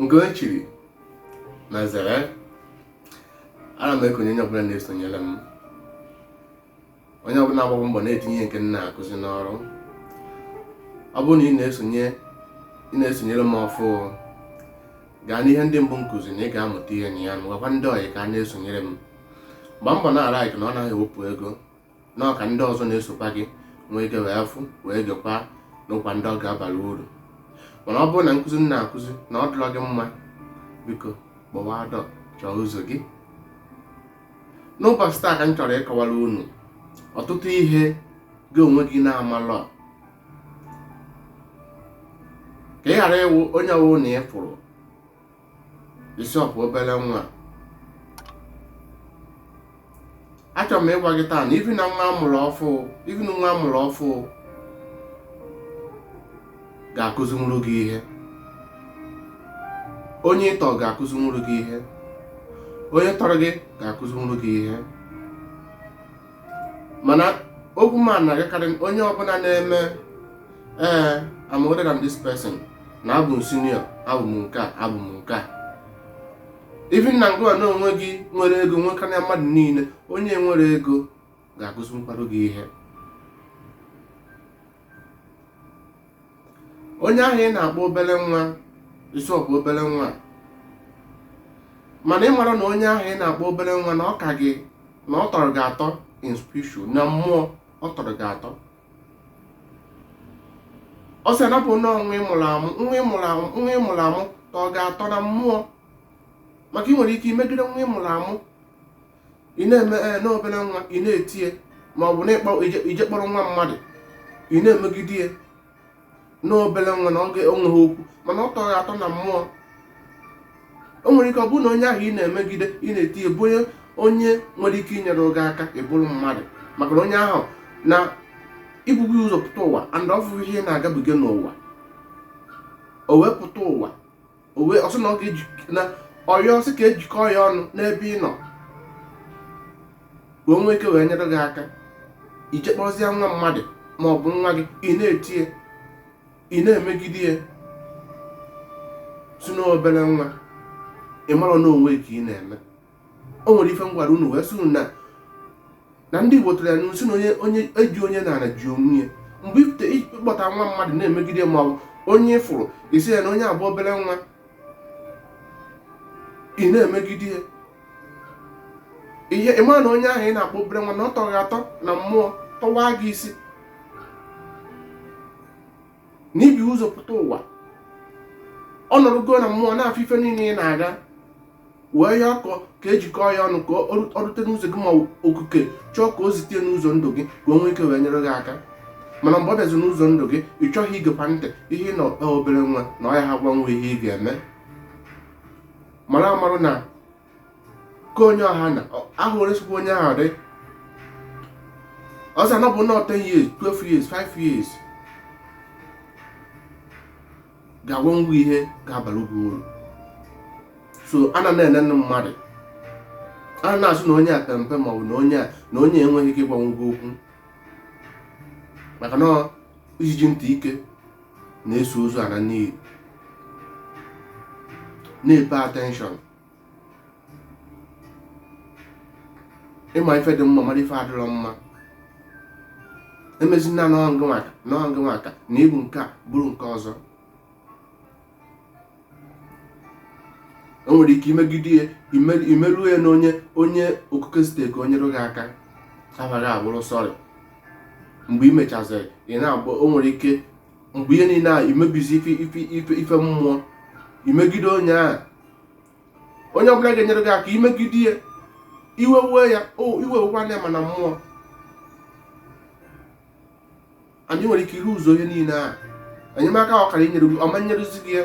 nke onye chiri nya zere ana m ekene onye ọbụla na-esonyere m onye ọbụla na-agba mbọ na-etinye ihe nke m na-akụzi n'ọrụ ọ bụrụ na ị na-esonye ị na-esonyere m ọfụụ gaa n'ihe ndị mbụ m kụzi na ị ga-amụta ihe na ya na gwakwa ndị ọyị ka ha na-esonyere m gbaa mbọ na-alike na ọ naghị ewepụ ego na ọ ka ndị ọzọ na-esokwa gị nwee ike wee fụ wee gekwa nụkwa ndị ọ ga-abara uru mana ọ bụrụ na nkụzi m na-akụzi na ọ dịrọ gị mma biko gbawaa door chọọ ụzọ gị n'ụbọchị taa ka m chọrọ ịkọwara unu ọtụtụ ihe gị onwe gị na-amalọ ka ị ghara ịwụ onye ọwụna ị fụrụ ị sị ọ bụ obere nwa achọrọ m ịgwa gị taa na even na nwa a mụrụ ọfụụ even na nwa a mụrụ ọfụụ ga-akụzinwuru gị ihe onye ị tọ ga-akụzinwuru gị ihe onye tọrọ gị ga-akụzinwuru gị ihe mana okwu m na-agakarị onye ọbụla na-eme ee eh, I'm older than this person na abụ m senior abụ m nke a abụ m nke a even na ngịwa na onwe gị nwere ego nwekarịa mmadụ niile onye enwerọ ego ga-akụzinwukwara gị ihe onye ahụ ị na-akpọ obere nwa ị sị ọ bụ obere nwa mana ị marọ na onye ahụ ị na-akpọ obere nwa na ọ ka gị na ọ tọrọ gị atọ in spiritual na mmụọ ọ tọrọ gị atọ o si na-abụ na nwa ị mụrụ amụ tọọ gị atọ na mmụọ maka ị nwere ike imegide nwa ị mụrụ amụ ị na-eme ee eh, na ọ obere nwa ị na-eti ya ma ọ bụ na i jee kpọrọ nwa mmadụ ị na-emegide ya na ọ obere nwa na okay o nweghị okwu mana ọ tọ gị atọ na mmụọ o nwere ike ọ bụrụ na onye ahụ ị na-emegide ị na-eti ya bụ onye nwere ike inyere gị aka ịbụrụ mmadụ maka na onye ahụ na o bugo ụzọ pụta ụwa and ọ fụ ihe na-agabiga n'ụwa o wee pụta ụwa o wee sị na ọ ga-eji na ọ yọọ sị ka e jikọọ ya ọnụ n'ebe ị nọ ka o nwee ike wee nyere gị aka i jee kpọzie nwa mmadụ ma ọ bụ nwa gị ị na-eti ya ị na-emegide ya sị na ọ obere nwa ị marọ na onwe gị ka ị na-eme o nwere ife m gwara unu wee sị unu na na ndị Igbo tụrụ ya n'ilu sị na onye ji onye n'ana ji onwe ya mgbe ibute ị kpọta nwa mmadụ na-emegide ma ọ bụ onye ị fụrụ ị sị na onye a bụ obere nwa ị na-emegide ya ị ma na onye ahụ ị na-akpọ obere nwa na ọ tọ gị atọ na mmụọ tọwa gị isi na i bu ụzọ pụta ụwa ọ nọrọgo na mmụọ na-afụ ife niile ị na-aga wee ya ọkọ ka ejikọọ ya ọnụ ka ọ rute n'ụzọ gị ma okuke chọọ ka o zite ya n'ụzọ ndụ gị ka o nwee ike wee nyere gị aka mana mgbe ọ bịazi n'ụzọ ndụ gị ị chọghị ige ya ntị ihe na ọ obere nwa na ọ ya ga-agwanwu ihe ị ga-eme mara amarụ na ka onye ọha na ahụ resịkwa onye ahụ dị ọzọ na ọ bụ nwa 10 years 12 years 5 years ga-agwanwu ihe ga-abara gị uru so anana ene ndị mmadụ anya na-asị na onye a pere mpe maọbụ na onye a na onye enweghị ike ịgwanwu gị okwu maka na ijiji ntị ike na-eso ozu ana n'ini na-epe attention ị ma ife dị mma mara ife adịrọ mma emezina n'ọngụ maka na ị bụ nke a bụrụ nke ọzọ o nwere ike imegide ya ime- imeruo ya na onye onye okuke zite ka o nyere gị aka afa gị abụrụ sorry mgbe i mechaziri ị na-agba o nwere ike mgbe ihe niile a imebizi ife mmụọ imegide onye ahụ onye ọbụla ga-enyere gị aka imegide ya iwe wee ya iwe wekwa na mana mmụọ anyị nwere ike iru ụzọ ihe niile a enyemaka ọ kara inyere gị ọ ma nyerezi gị ya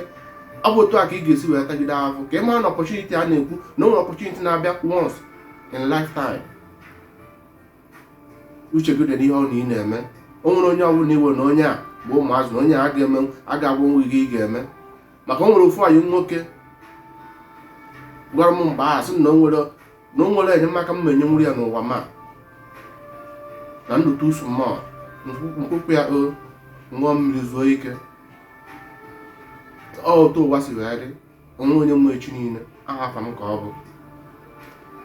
ọ bụ otu a ka ị ga-esi wee tagide ahụ ka ị mara na opportunity a na-ekwu na o nwere opportunity na-abịa once in lifetime uche gị dị n'ihe ọ na ị na-eme o nwere onye ọbụla iwe na onye a bụ ụmụazụ na onye a ga-eme a ga-agwanwu gị ị ga-eme maka o nwere ofu enyi m nwoke gwara m mgbe ahụ sị na o nwere na o nwere enyemaka m enyenwuru ya n'ụwa ma na m dị too small mkpụkpụ ya ọ ṅụọ mmiri zuo ike ọ otu ụwa si wee dị o nwerọ onye ma echi niile aha afa m ka ọ bụ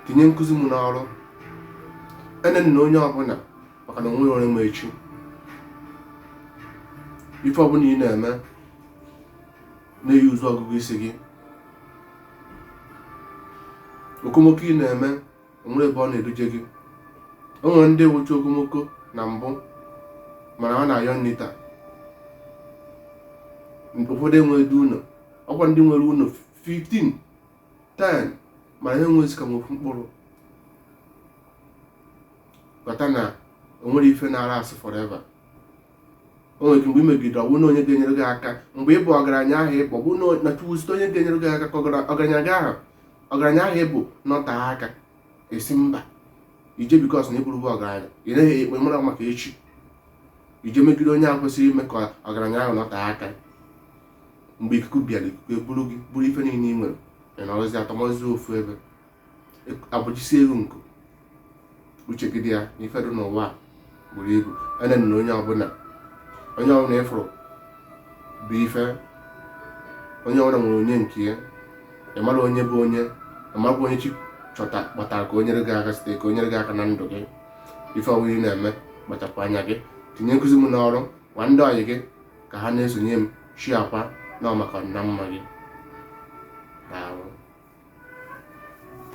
tinye nkụzi m n'ọrụ enena onye ọbụla maka na o nwerọ onye ma echi ife ọbụla ị na-eme na-e use ọgụgụ isi gị okomoko ị na-eme onwere ebe ọ na-eduje gị o nwere ndị wụcha okomoko na mbụ mana ọ na-ayọ nri taa ụfọdụ enweghị ụlọ ọkwa ndị nwere ụlọ 15 10 mana ha enweghịzi ka ofu mkpụrụ ghọta na onwere ife na-a last forever o nwere ike mgbe i megide ọ bụrụ na onye ga-enyere gị aka mgbe ịbụ ọgaranya ahụ ịbụ ọ bụrụ na- na chukwu site onye ga-enyere gị aka ka ọgara- ọgaranya gị ahụ ọgaranya ahụ ịbụ nọtee aka ị sị mba i je because na ị bụrụ ọgaranya ị naghị ekpe mara maka echi i je megide onye ahụ kwesịrị ime ka ọgaranya ahụ nọtee aka mgbe ikuku bịara ikuku eburu gị buru ife niile ị nwere ị nọrọzi atọmọzi ofu ebe agbajisie gị nku uche gị dị ya na ife dị n'ụwa a buru ibu enenina onye ọbụla onye ọbụla ị fụrụ bụ ife onye ọbụla nwere onye nke ya ị mara onye bụ onye ị mara bụ onye chi chọta kpọtara ka o nyere gị aka site ka o nyere gị aka na ndụ gị ife ọbụla ị na-eme kpachapụ anya gị tinye nkụzi m n'ọrụ gwa ndị ọyị gị ka ha na-esonye m share kwa na ọ maka na mma gị